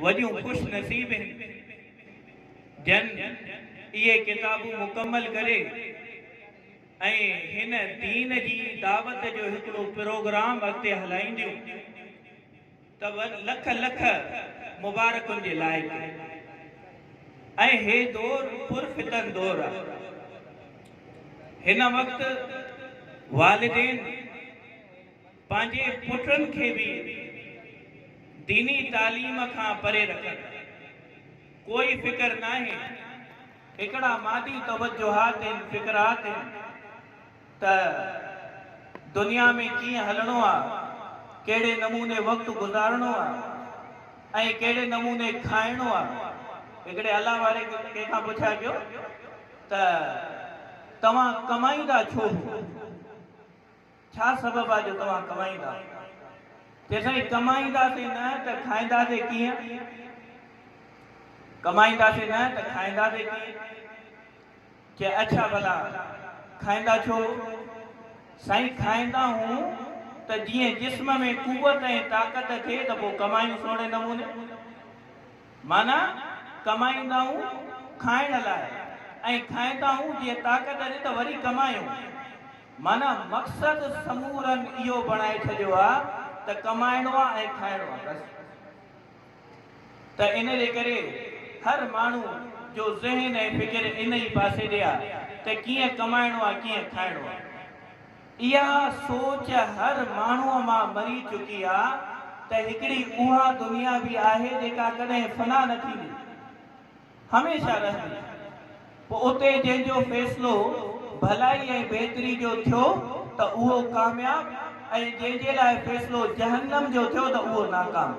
وڏيون خوش نصيب هن جن اهي ڪتابون مڪمل ڪري ۽ هن دين جي دعوت جو هڪڙو پروگرام اڳتي هلائينديون ته لک لک مبارڪن جي لائق ۽ هي دور پر فتن دور آ هن وقت والدين پنهنجي پٽن کي به ديني تعليم کان پري رکن. ڪوئي فڪر ناهي. هڪڙا مادي توجهات هن فڪرات هن ته دنيا ۾ ڪيئن هلڻو آ، ڪهڙي نموني وقت گذارڻو آ ۽ ڪهڙي نموني کائڻو آ. هڪڙي الله واري ڪنهن کان پڇا ڪيو ته توهان ڪمائيندا ڇو هو؟ ڇا سبب آ جو توهان ڪمائيندا؟ چي سائين ڪمائينداسين نه ته کائينداسين ڪيئن؟ ڪمائينداسين نه ته کائينداسين ڪيئن؟ چي اڇا ڀلا کائيندا ڇو؟ سائين کائيندا هون ته جيئن جسم ۾ قوت ۽ طاقت ٿئي ته پو ڪمايون سهڻي نموني. معنيٰ ڪمائيندائون کائڻ لاء ۽ کائيندائون جيئن طاقت ڏي ته وري ڪمايون. معنيٰ مقصد سمورن اهو بڻائي ڇڏيو آ ته ڪمائڻو آ ۽ کائڻو آ بس ته ان جي ڪري هر ماڻهو جو ذهن ۽ فڪر ان ئي پاسي ڏي آ ته ڪيئن ڪمائڻو آ ڪيئن کائڻو آ اها سوچ هر ماڻهو مان مري چڪي آ ته هڪڙي اها دنيا به آهي جيڪا ڪڏهن فنا نه ٿيندي. هميشه رهندي. پوء اتي جنهن جو فيصلو ڀلائي ۽ بهتري جو ٿيو ته اهو ڪامياب ۽ جنهن جي لاء فيصلو جهنم جو ٿيو ته اهو ناڪام.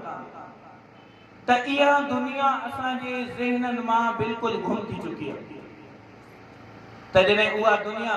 ته اها دنيا اسان جي ذهنن مان بلڪل گم ٿي چڪي آهي. ته جڏهن اها دنيا.